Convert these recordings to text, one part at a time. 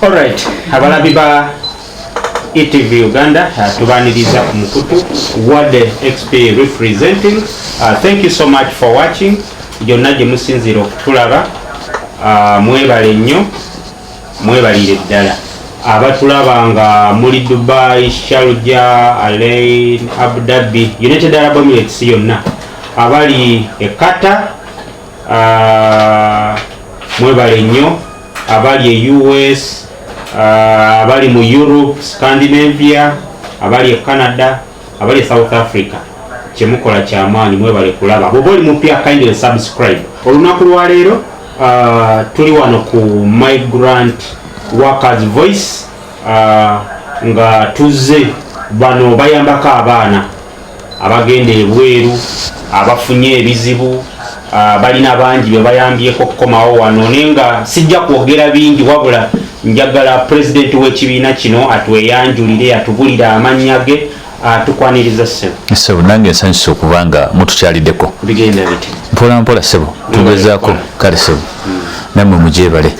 Alright, abalabi ba ETV Uganda uh, tubaniriza ku mukutu World XP representing uh, thank you so much for watching gyonna gye musinziira okutulaba uh, mwebale nnyo mwebalire ddala abatulaba nga muli Dubai, Sharjah, Alain, Abu Dhabi, United Arab Emirates yonna abali e Qatar Ah, mwebale nnyo abali e US ah, abali mu Europe Scandinavia abali e Canada abali e South Africa kyemukola kyamaanyi mwebale kulaba bwoba oli mupya kindly subscribe olunaku lwaleero uh, ah, tuli wano ku migrant workers voice uh, nga tuzze bano bayambako abaana abagenda ebweru abafunye ebizibu ah, balina bangi bebayambyeko okukomawo wano naye nga sijja kwogera bingi wabula njagala pulezidenti w'ekibiina kino atweyanjulire atubulire amannya ge tukwaniriza ssebo ssebo nange nsanyusa okuba nga mutukyaliddeko bigenda biti mpolampola ssebo tugezaako kale ssebo mm. nammwe mugyebale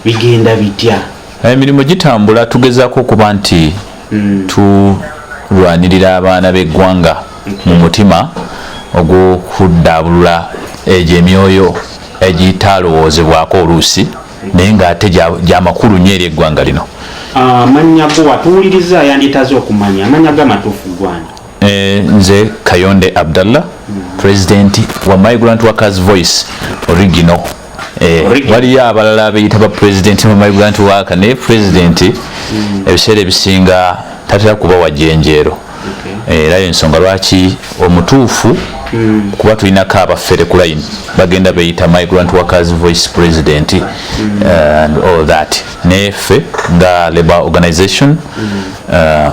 bigenda bitya emirimu gitambula tugezaako okuba nti mm. tulwanirira abaana b'eggwanga mu mutima ogw'okuddaabulula egyo emyoyo egitalowoozebwako oluusi naye ng'ate gyamakulu nyo eri eggwanga lino amannya ah, go watuwuliriza yanditaze okumanya amannya go amatuufu gwani Eh, nze kayonde abdallah president wa migrant workers voice original eh, waliyo abalala abeyita ba president wa migrant worker naye president hmm. ebiseera ebisinga tatera kuba wajenjeero eh, era yensonga lwaki omutuufu hmm. kuba tulinako abafere ku line bagenda beyita migrant workers voice president hmm. and all that naye ffe nga labor organization uh,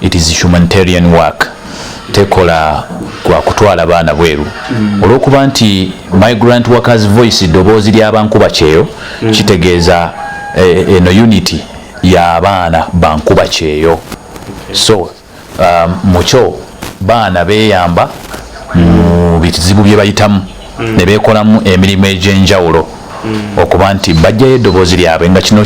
it is humanitarian work tekola kwa kutwala baana bweru mm. olwokuba nti migrant workers voice ddoboozi lyabankuba kyeyo mm. kitegeeza eh, eno eh, unity yabaana bankuba kyeyo okay. so um, mukyo baana beyamba mu mm. bizibu byebayitamu mm. ne beekolamu emirimu egy'enjawulo mm. okuba nti bajjayo eddoboozi lyabwe nga kino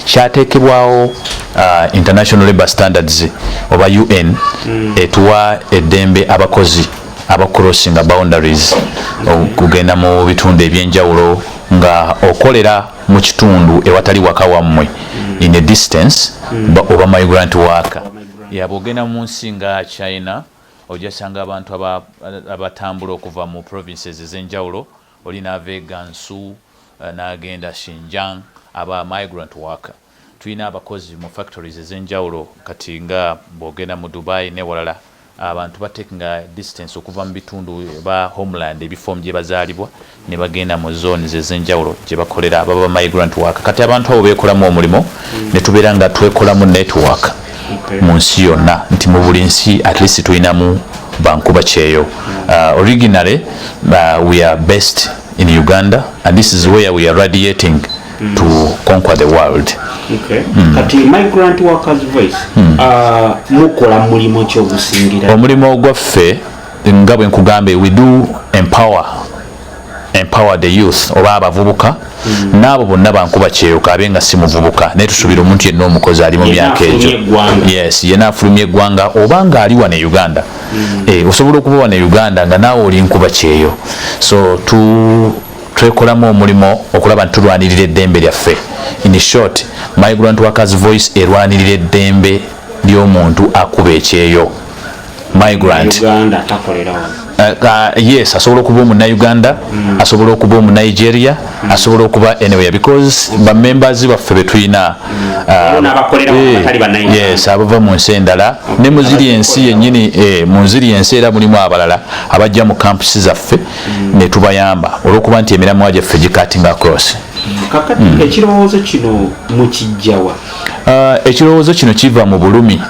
kyateekebwawo uh, international labor standards oba un mm. etuwa eddembe abakozi abacrossinga boundaries okugenda mu bitundu ebyenjawulo nga okolera mu kitundu ewatali waka wammwe in a distance oba migrant worker yabwogenda mu nsi nga china ojja sanga abantu abatambula okuva mu provinces ezenjawulo oli naava e gansu eh, nagenda shinjang aba migrant worker tulina abakozi mu factories ezenjawulo kati nga bwogenda mu dubai newalala abantu batekinga distance okuva mu bitundu ba homeland ebifom gyebazaalibwa ne bagenda mu zones ezenjawulo gye bakolera baba migrant worker kati abantu abo beekolamu omulimu ne tubeera nga twekolamu network mu nsi yonna nti mu buli nsi at least tulinamu bankuba kyeyo uh, originally uh, we are based in uganda and this is where we are radiating mm. to conquer the world okay. mm. kati migrant workers voice mm. uh, mukola mulimu kyogusingira omulimu ogwaffe nga bwe nkugambye we do empower empower the youth oba abavubuka mm. n'abo bonna bankuba kyeyoka abe nga si muvubuka naye tusuubira omuntu yenna omukozi ali mu myaka egyo yes yena afulumya eggwanga oba nga ali wano e uganda mm. eh, osobola okuba wano e uganda nga naawe oli nkuba kyeyo so tu twekolamu omulimu okulaba nti tulwanirira eddembe lyaffe in short migrant workers voice erwanirira eddembe ly'omuntu akuba ekyeyo migrant eh, yes asobola okuba omunauganda mm. asobola okuba omunigeria mm. asobola okuba anywhere because bamembers baffe betulina mm. uh, eh, abava mu nsi endala ne muziri ensi yenyini eh, munziri ensi era mulimu abalala abajja mu campusi zaffe netubayamba olwokuba nti emiramwa gyaffe gikating across ekirowoozo kino mukijjawa uh, ekirowoozo kino kiva mu bulumi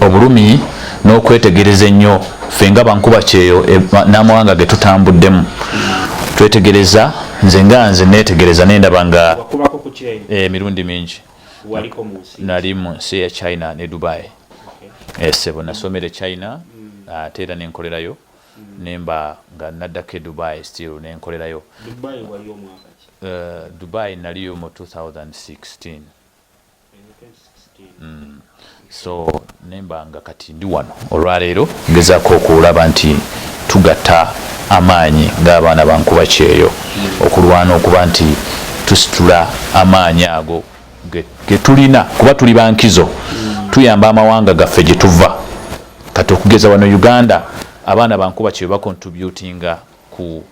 obulumi n'okwetegereza ennyo ffe nga bankuba kyeyo e, n'amawanga ge tutambuddemu twetegereza nze nga nze neetegereza nendaba nga eh, emirundi mingi nali mu nsi ya china ne dubai eh, sebo nasomere china mm. ate era nenkolerayo mm. nemba nga naddako e dubai still nenkolerayo dubai eh, naliyo mu 2016 Mm. so nemba nga kati ndi wano olwaleero ngezaako okulaba nti tugatta amaanyi ng'abaana bankuba kyeyo okulwana okuba nti tusitula amaanyi ago getulina kuba tuli bankizo tuyamba amawanga gaffe gye tuva kati okugeza wano uganda abaana bankuba kyeyo bakontributinga ku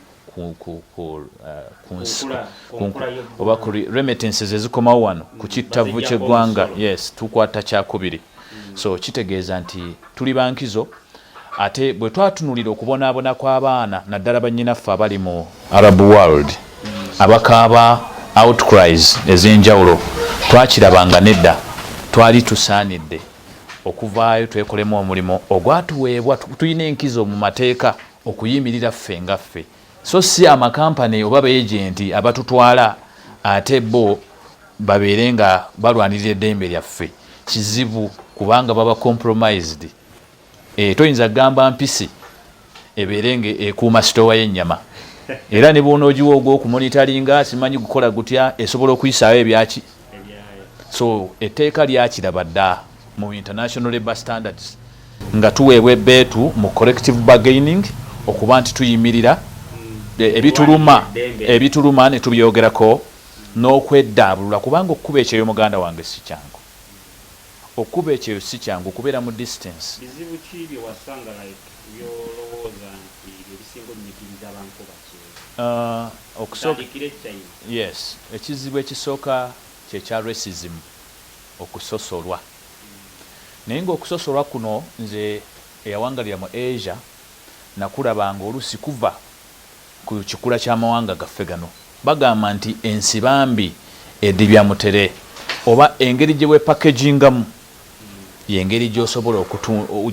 oba ku remittances ezikomawo wano ku mm, kittavvu ky'eggwanga yes tukwata kyakubiri mm. so kitegeeza nti tuli bankizo ate bwe twatunulira okubonaabona kw'abaana naddala bannyinaffe abali mu arab world mm. abakaaba outcries ez'enjawulo twakiraba nga nedda twali tusaanidde okuvaayo twekolemu omulimu ogwatuweebwa tulina enkizo mu mateeka okuyimirira ffe nga ffe so si amakampani oba beejenti abatutwala ate bo babeere nga balwanirira eddembe lyaffe kizibu kubanga baba compromised e, toyinza kugamba mpisi ebeere nga ekuuma sitowa y'ennyama era ne bwonogiwa ogwokumonitalinga simanyi gukola gutya esobola okuyisaawo ebyaki so etteeka lyakiraba dda mu international labour standards nga tuweebwa ebeetu mu corrective bargaining okuba nti tuyimirira hmm. e, ebituluma ebituluma ne tubyogerako n'okweddaabulula kubanga okukuba ekyeyo muganda wange si kyangu okukuba ekyeyo si kyangu okubeera mu distance uh, yes ekizibu ekisooka kyekya racism okusosolwa naye nga okusosolwa kuno nze eyawangalira mu Asia nakulaba nga olusi kuva ku kikula kya mawanga gaffe gano bagamba nti ensibambi edibya mutere oba engeri gyewepackagingamu yengeri gyosobola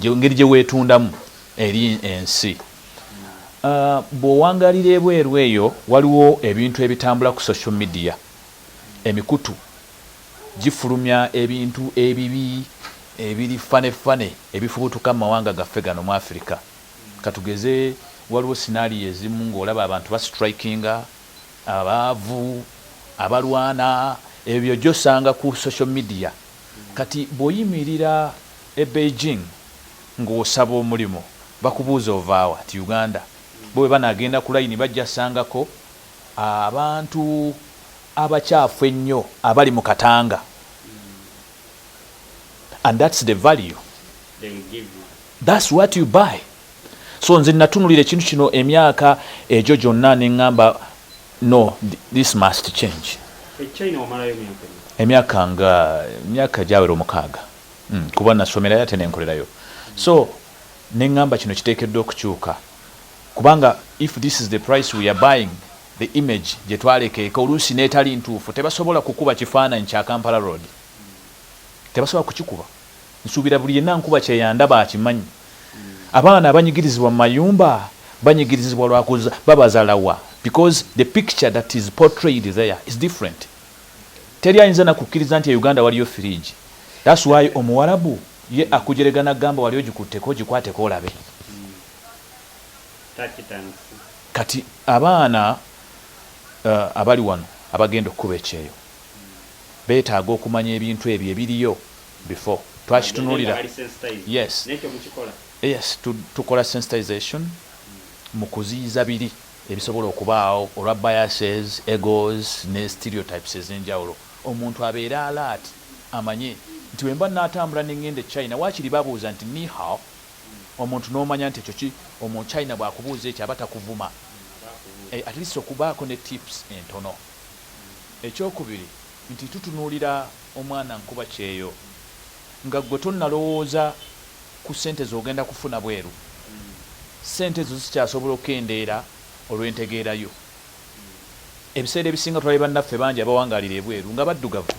engeri gyewetundamu eri ensi ah, bwowangalira ebweru eyo waliwo ebintu ebitambula ku social media emikutu gifulumya ebintu ebibi ebiri ffane ffane ebifubutuka mu mawanga gaffe gano mu Afirika. Ka tugeze waliwo sinaaliyo ezimu ng'olaba abantu basitrayikinga, abaavu, abalwana, ebyo by'ojja osanga ku social media. Kati bw'oyimirira e Beijing ng'osaba omulimu bakubuuza ovaawa nti Uganda. Bo bwe banaagenda ku layini bajja sangako. Abantu abakyafu ennyo abali mu Katanga and that's the value that's what you buy so nze natunulira ekintu kino emyaka egyo gyonna neŋŋamba no this must change emyaka nga emyaka gyawera omukaaga hmm, kuba nasomerayo ate nenkolerayo so neŋŋamba kino kiteekeddwa okukyuka Kubanga if this is the price we are buying the image gyetwalekeeka oluusi n'etali ntuufu tebasobola kukuba kifaananyi kya Kampala Road. Tebasobola kukikuba. Nsuubira buli yenna nkuba kyeyandaba akimanyi. Abaana abanyigirizibwa mu mayumba banyigirizibwa lwa kuza babazala wa because the picture that is portrayed there is different. Teri ayinza na kukkiriza nti e Uganda waliyo firiigi. That's why Omuwarabu ye akujerega n'akugamba wali ogikutteko gikwateko olabe. kati abaana uh, abali wano abagenda okukuba ekyeyo betaaga okumanya ebintu ebyo ebiriyo before twakitunulira yes yes tukola sensitization hmm. mu kuziyiza biri ebisobola okubaawo olwa biases egos ne stereotypes ezenjawulo omuntu abeere alaati amanye nti wemba natambula nengenda e china wakiri babuuza nti nihao omuntu nomanya nti ekyo ki omu china bwakubuuza ekyo aba takuvuma eh, at least okubaako ne tips entono ekyokubiri nti tutunulira omwana nkuba kyeyo nga gwe tonalowooza ku sente zogenda kufuna bweru sente ezo zikyasobola okendeera olwentegeerayo ebiseera ebisinga tulabye bannaffe bangi abawangaalira ebweru nga baddugavu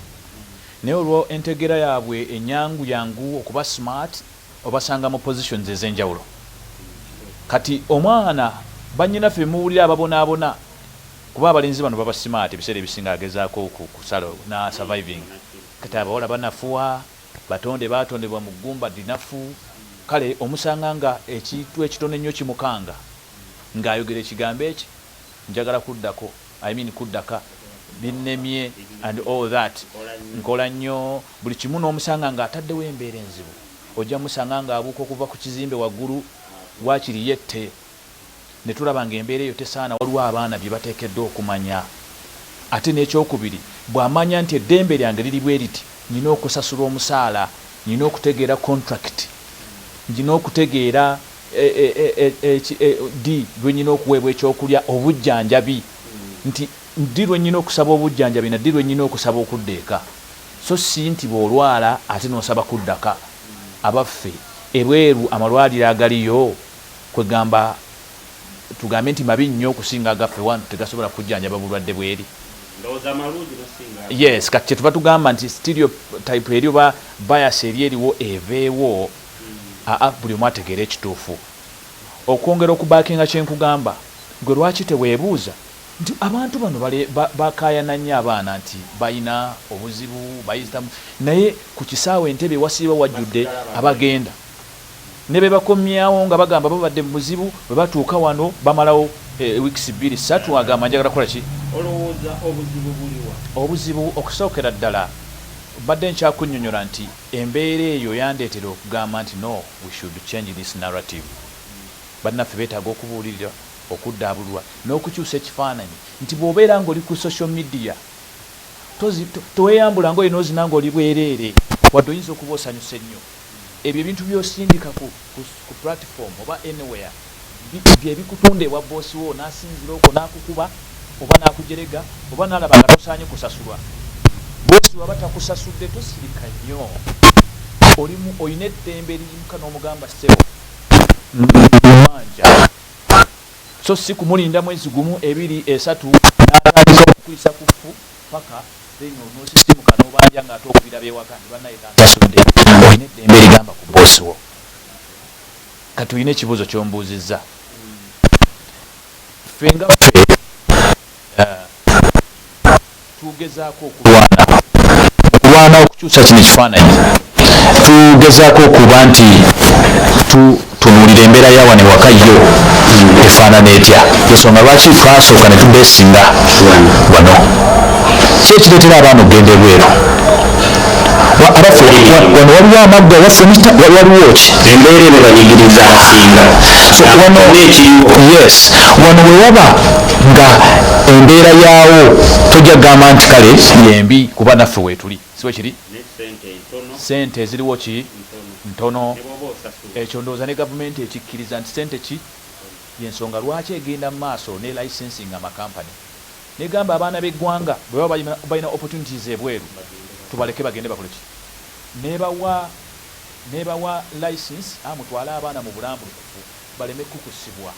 naye olwa entegeera yaabwe enyangu yangu okuba smart obasanga mu positions ezenjawulo kati omwana bannyinaffe bemuwulira ababonaabona kuba abalenzi bano baba smart ebiseera ebisinga agezaako kusala na surviving kati abawala banafuwa batonde baatondebwa mu ggumba linafu kale omusanga nga ekintu ekitono ennyo kimukanga ng'ayogera ekigambo eki njagala kuddako I mean kuddaka binnemye and all that nkola nnyo buli kimu n'omusanga nga ataddewo embeera enzibu ojja musanga nga abuuka okuva ku kizimbe waggulu waakiri yette ne tulaba nga embeera eyo tesaana waliwo abaana bye bateekeddwa okumanya ate n'ekyokubiri bw'amanya nti eddembe lyange liri bwe liti nina okusasula omusaala nina okutegeera contract nina okutegeera Ddi lwe nnina okuweebwa ekyokulya, obujjanjabi? Nti, Ddi lwe nnina okusaba obujjanjabi na ddi lwe nnina okusaba okudda eka? So si nti bw'olwala ate n'osaba kuddaka. Abaffe, ebweru amalwaliro agaliyo, kwegamba, tugambe nti mabi nnyo okusinga agaffe wano, tegasobola kujjanjaba bulwadde bw'eri? Ndowooza malungi n'osinga agaffe. Yes, kati kyetuva tugamba nti stereotype eri oba bias eri eriwo eveewo. aa buli omu ategeere ekituufu okwongera okubakinga kyenkugamba gwe lwaki tewebuuza nti abantu bano bakayana nnyo abaana nti balina obuzibu bayitamu naye ku kisaawe entebbe wasiiba wajjudde abagenda nebebakomyawo nga bagamba babadde mu buzibu bwebatuuka wano bamalawo e weeks bbiri ssatu agamba njagala kukola ki olowooza obuzibu buliwa obuzibu okusookera ddala mbadde nkyakunyonyola nti Embeera eyo yandeetera okugamba nti, No, we should change this narrative. Bannaffe beetaaga okubuulirirwa, okuddaabululwa, n'okukyusa ekifaananyi nti bw'obeera ng'oli ku social media tozi, to, teweyambula ngoye n'ozina ng'oli bwereere, wadde oyinza okuba osanyuse nnyo. Ebyo ebintu by'osindika ku, ku, ku platform oba anywhere. bye bikutunda ewa bboosi wo n'asinziira okwo n'akukuba oba n'akujerega oba n'alaba nga tosaanye kusasulwa. Bboosi bw'aba takusasudde tosirika nnyo, olina eddembe eriyimuka n'omugamba ssebo mbanja so si kumulinda mwezi gumu, ebiri, esatu n'atandika okukuyisa ku ffu paka then onoosisimuka n'obanja ng'ate okubira b'ewaka nti bannaye tansasudde. Olina eddembe erigamba ku bboosi wo. kati olina ekibuuzo kyombuuzizza ffe nga ffe eh, tugezaako okulwana okulwana okukyusa kino ekifaananyi tugezaako okuba nti tunuulira embeera yawa ne waka yo efaanana etya ensonga lwaki twasooka ne tubeesinga wano kyekireetera abaana okugenda ebweru abaffe wano waliwo amaggwa waffe waliwo ki embeera eno banyigiriza abasinga yes wano wewaba nga embeera yaawo tojja kugamba nti kale yembi kuba naffe weetuli siwe kiri sente eziriwo ki ntono ekyo ndowooza ne gavumenti ekikkiriza nti sente ki yensonga lwaki egenda mu maaso ne licensing amakampani Negamba abaana begwanga bwebaba balina opportunities ebweru tubaleke bagende bakole ki nebawa nebawa license a mutwale abaana mubulambulukufu baleme kukusibwa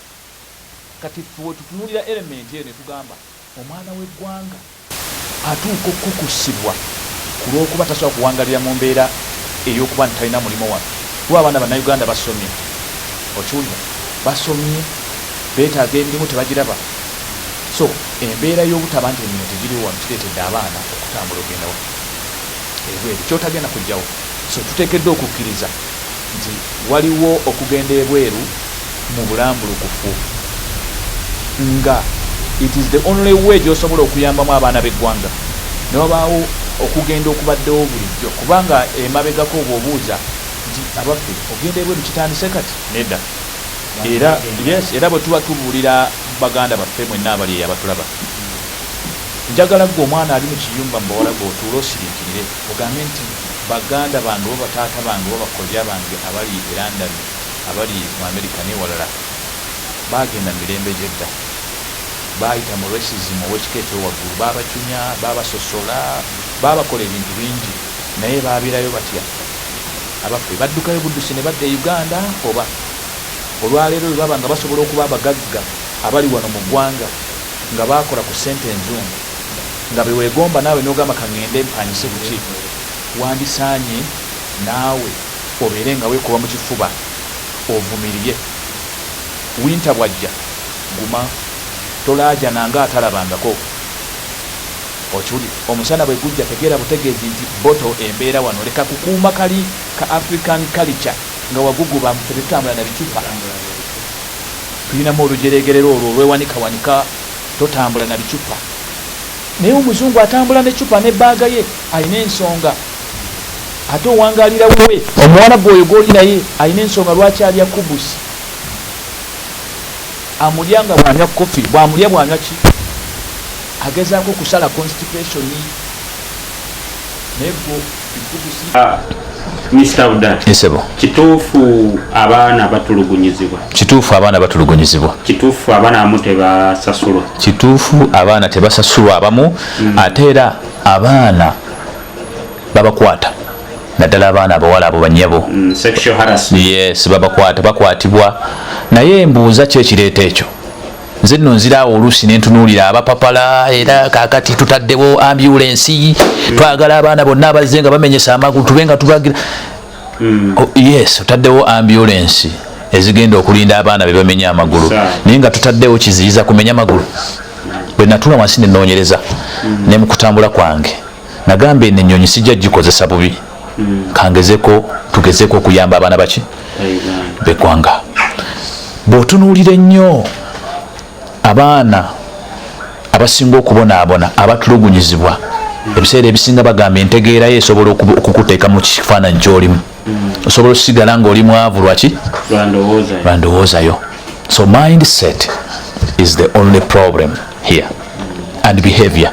kati ffe wetutunulira element eyo netugamba omwana wegwanga atuuka okukusibwa kulwokuba tasobola kuwangalira mumbera eyokuba nti talina mulimo wano kuba abaana banauganda basomye okiwulira basomye betaga emirimu tebagiraba. So embeera y'obutaba nti emirimu tegiriwo wano kireetedde abaana okutambula okugenda wa? Ebweru, ky'otagenda kujjawo. So tuteekeddwa okukkiriza nti waliwo okugenda ebweru mu bulambulukufu nga it is the only way gy'osobola okuyambamu abaana b'eggwanga ne wabaawo okugenda okubaddewo bulijjo kubanga emabegako obw'obuuza nti abaffe okugenda ebweru kitandise kati? Nedda. Era yes era bwe tuba tubuulira baganda baffe mwenna abali eyo abatulaba njagala gwe omwana ali mu kiyumba mu bawala gwe otuula osiriikirire ogambe nti baganda bange oba bataata bange oba bakojja bange abali e london abali mu amerika newalala baagenda mu mirembe gyedda baayita mu racism ow'ekika ekyowaggulu baabacunya baabasosola baabakola ebintu bingi Naye baaberayo batya abaffe? Baddukayo buddusi ne badda e Uganda oba? Olwaleero bwe baba nga basobola okuba abagagga abali wano mu ggwanga nga baakola ku ssente enzungu nga be weegomba naawe n'ogamba ka ŋŋende mpangise ku ki, wandisaanye naawe obeere nga weekuba mu kifuba ovumirye. Winta bw'ajja guma tolaajana ng'atalabangako. Okiwulira omusana bwe gujja tegeera butegeezi nti bottle embeera wano leka kukuuma kali ka African culture nga wagugubamu ffe tetutambula na bicupa tulinamu olujeregerera olwo olwewanikawanika totambula na bicupa naye omuzungu atambula ne cupa ne baaga ye alina ensonga ate owangalira wuwe omuwala gwe oyo gwoli naye alina ensonga lwaki alya kubusi amulya nga bwanywa kofi bwamulya bwanywa ki Agezaako kusala constipation naye gwo bikugusi. Ah, Mr. Udan. Nsebo. Kituufu abaana batulugunyizibwa. Kituufu abaana batulugunyizibwa. Kituufu abaana abamu tebasasulwa. Kituufu abaana tebasasulwa abamu mm. ate era abaana babakwata naddala abaana abawala abo banyabo mm, yes babakwata bakwatibwa naye mbuuza kyekireeta ekyo nze nno nziraawo oluusi nentunuulira abapapala era kakati tutaddewo ambulensi twagala abaana bonna abazze nga bamenyesa amagulu tube nga tubagira hmm. oh, yes otaddewo ambulensi ezigenda okulinda abaana bebamenya amagulu naye nga tutaddewo kiziyiza kumenya magulu bwenatula wansi nenoonyereza hmm. nemukutambula kwange nagamba eno enyonyi sijja gikozesa bubi hmm. kangezeko tugezeko okuyamba abaana baki begwanga bwotunuulira ennyo abaana abasinga okubonaabona abatulugunyizibwa hmm. ebiseera ebisinga bagamba entegeerayo esobola okukuteeka mu kifaananyi kyolimu hmm. osobola okusigala ngaoli mwavu lwaki lwandowoozayo so mindset is the only problem here and behavior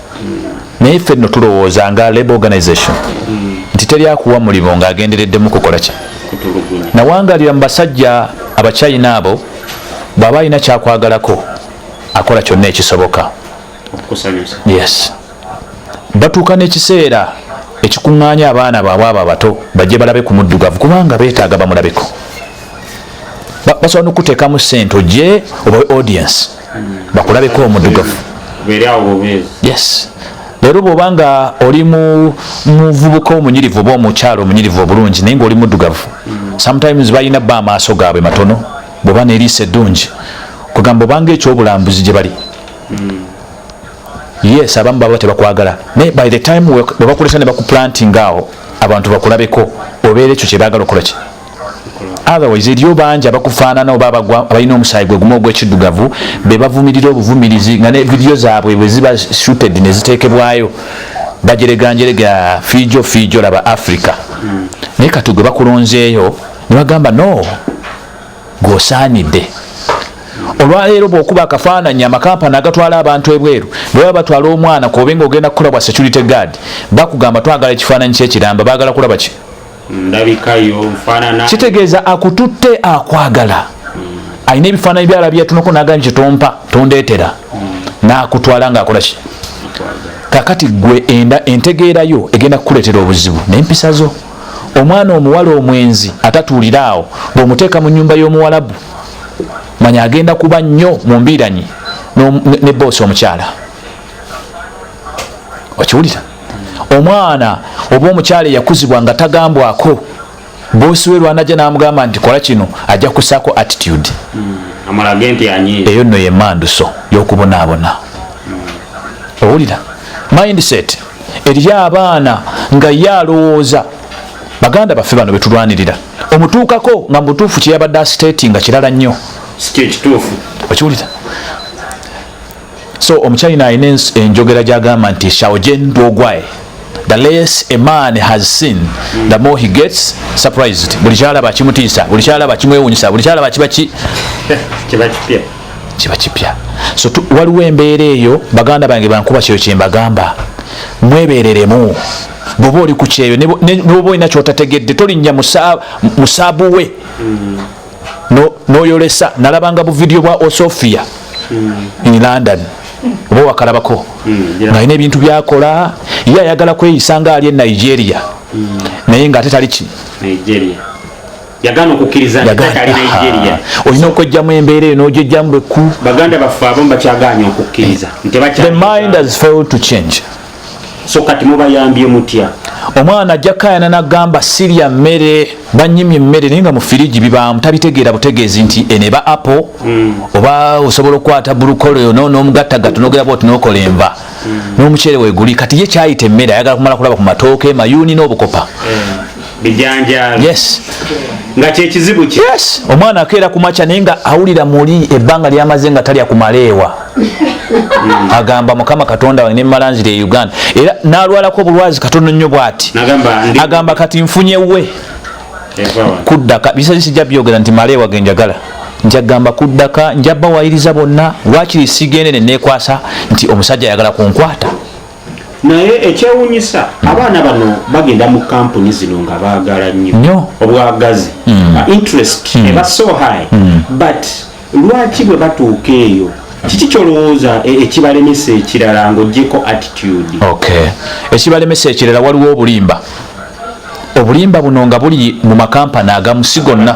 naye ffe no tulowooza nga labor organization nti teri akuwa mulimu ng'agendereddemu kukola ki nawangalira mu basajja abachina abo bw'aba alina kyakwagalako akola kyonna ekisoboka yes batuuka n'ekiseera ekikuŋŋaanya abaana baabwe abo abato bajje balabe ku muddugavu kubanga beetaaga bamulabeko basobola nokuteekamu sente ogye obawe audience bakulabeko omudugavu yes leero bwoba nga oli muvubuka omunyirivu oba omukyalo omunyirivu obulungi naye ngaoli mudugavu sometimes balina ba amaaso gaabwe matono bwoba neriisa eddungi kugamba obanga ekyobulambuzi gye bali yes abamu baba tebakwagala naye by the time bwebakuleta ne bakuplantinga awo abantu bakulabeko obeera ekyo kyebagala okolaki otherwise eriyo bangi abakufaanana oba abalina omusaayi gwe gumu ogwekiddugavu be bavumirira obuvumirizi nga ne vidiyo zaabwe bwe ziba shooted ne ziteekebwayo bajereganjerega fiijo fiijo laba africa naye kati gwe bakulonzeeyo ne bagamba no gwosaanidde olwaleero bwokuba akafaananyi amakampani agatwala abantu ebweru bweba batwala omwana kuobe nga ogenda kukola bwa security guard bakugamba twagala ekifaananyi kyekiramba bagala kulaba ki ndabikayo nfanana kitegeeza akututte akwagala alina ebifaananyi byala byatunako nagamba nti tompa tondetera nakutwala nga akolaki kakati gwe enda entegeerayo egenda kukuleetera obuzibu nempisa zo omwana omuwala omwenzi atatuulira awo ngaomuteeka mu nyumba y'omuwalabu manya agenda kuba nnyo mu mbiiranyi ne boosi omukyala okiwulira omwana oba omukyala eyakuzibwa nga tagambwako bosi we lwanaja namugamba nti kola kino ajja kusako attitude hmm, eyo nno yemanduso yokubonaabona hmm. owulira mindset eriyo abaana nga ye alowooza baganda baffe bano betulwanirira omutuukako nga mubutuufu kyeyabadde asiteti nga kirala nnyo okiwulira so omuchina alina enjogera gyagamba nti shaojen dogwae the less a man has seen the more he gets surprised buli kyalaba kimutiisa buli kyalaba kimwewunyisa buli kyalaba kiba ki kiba kipya kiba kipya so waliwo embeera eyo baganda bange bankuba kyeyo kyembagamba mwebereremu bwoba oli ku kyeyo nebwoba olina kyotategedde tolinnya musaabu we mm. noyolesa no nalabanga buvidiyo bwa osofia mm. in london oba wakalabako mm, yeah. nalina ebintu byakola ye ayagala kweyisa nga ali e nigeria mm. naye nga ate taliki olina okwejjamu embeera eyo nojejjamu beku baganda baffe abamu bakyaganya okukkiriza nti bakyamind has failed to change so kati mubayambye mutya omwana ajja kayana nagamba sirya mmere banyimye emmere naye nga mu firiji bibaamu tabitegeera butegeezi nti eneba apple mm. oba osobola okukwata bulukoleyo nomugattagatta nogera bwoti nokola enva mm. n'omuceere weguli kati ye kyayita emmere ayagala kumala kulaba ku matooke mayuuni n'obukopa mm. bijanjaalo yes nga kyekizibu ki yes omwana akeera ku makya naye nga awulira muli ebbanga lyamaze nga talya kumaleewa hmm. agamba mukama katonda wange nemala nzira e uganda era nalwalako obulwazi katono nnyo bwati agamba kati nfunye we kuddaka bisasi sijja byogera nti maleewa genjagala njagamba kuddaka njabawayiriza bonna wakiri sigendene nekwasa nti omusajja ayagala kunkwata naye ekyewunyisa abaana bano bagenda mu kampuni zino nga baagala nnyo obwagazi mm. uh, interest mm. eba so high mm. but lwaki bwe batuuka eyo kiki kyolowooza e, ekibalemesa ekirala ngaogyeko attitude okay ekibalemesa ekirala waliwo obulimba obulimba buno nga buli mu makampani agamu si gonna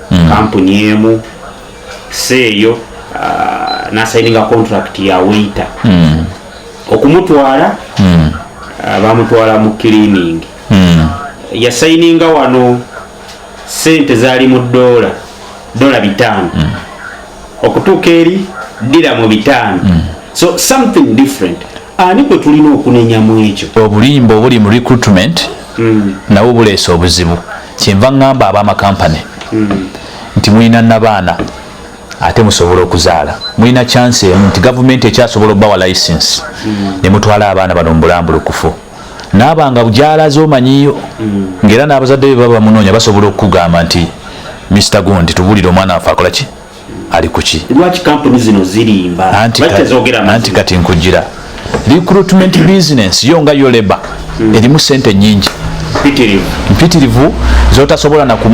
mm. kampuni emu seeyo uh, nasayininga contract ya waiter mm. okumutwala mm. uh, bamutwala mu cleaning mm. yasayininga wano sente zali mu dola dola bitano mm. okutuuka eri dira mu bitano mm. so something different ani kwe tulina okunenya mu ekyo obulimba obuli mu recruitment mm. nawo buleesa obuzibu kyenva ŋŋamba abamakampani mm. nti mulina nabaana ate musobola okuzaala mulina chance emu nti gavumenti ekyasobola obawa license mm. ne mutwala abaana bano mubulambulukufu naaba nga gyalaze omanyiyo mm. ngaera n'abazadde be baba bamunoonya basobola okukugamba nti mr gundi tubulire omwana wafe akola ki ali kuki lwaki kampuni zino zirimba anti kati nkujira recruitment business yo nga yo leba hmm. erimu sente nyingi mpitirivu zotasobola nakuma